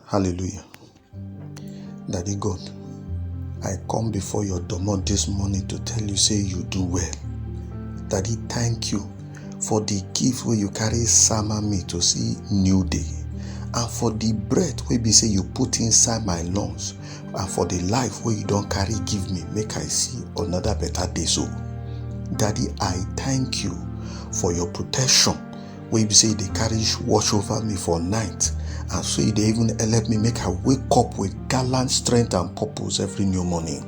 Hallelujah. Daddy God, I come before your domot this morning to tell you, say you do well. Daddy, thank you for the gift where you carry summer me to see new day and for the breath where be say you put inside my lungs and for the life where you don't carry give me make i see another better day so daddy i thank you for your protection wey be say e dey carry watch over me for night and so e dey even help me make i wake up with gallant strength and purpose every new morning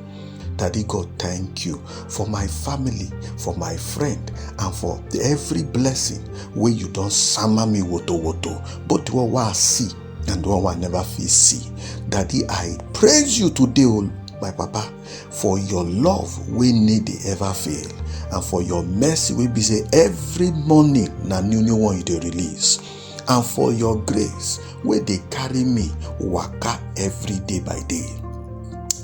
daddy god thank you for my family for my friend and for every blessing wey you don sama me woto woto both the one wey i see and the one wey i never fit see daddy i praise you today o my papa for your love wey no dey ever fail and for your mercy wey be say every morning na new new one you dey release and for your grace wey dey carry me waka every day by day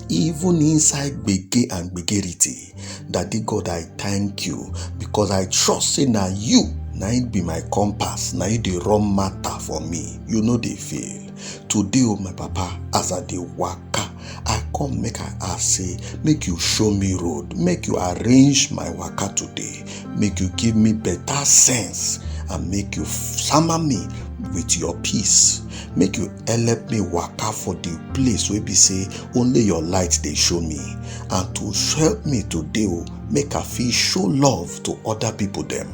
even inside gbege and gbegerity daddy god i thank you because i trust say na you na it be my compass na you dey run matter for me you no dey fail today o my papa as i dey waka i come make i ask say make you show me road make you arrange my waka today make you give me better sense and make you sama me with your peace make you help me waka for the place wey be say only your light dey show me and to help me today o make i fit show love to other people dem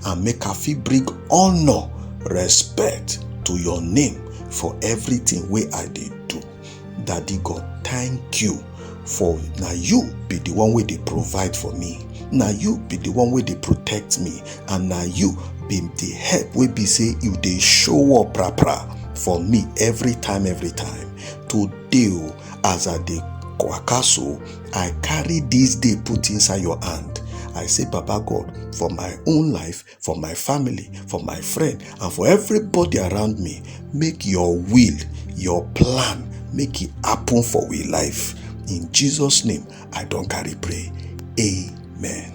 and make i fit bring honour respect to your name for everything wey i dey do daddy god thank you for na you be the one wey dey provide for me na you be the one wey dey protect me and na you be the help wey be say you dey show up pra pra for me every time every time today o as i dey waka so i carry this day put inside your hand i say baba god for my own life for my family, for my friend, and for everybody around me. Make your will, your plan, make it happen for we life. In Jesus' name, I don't carry pray. Amen.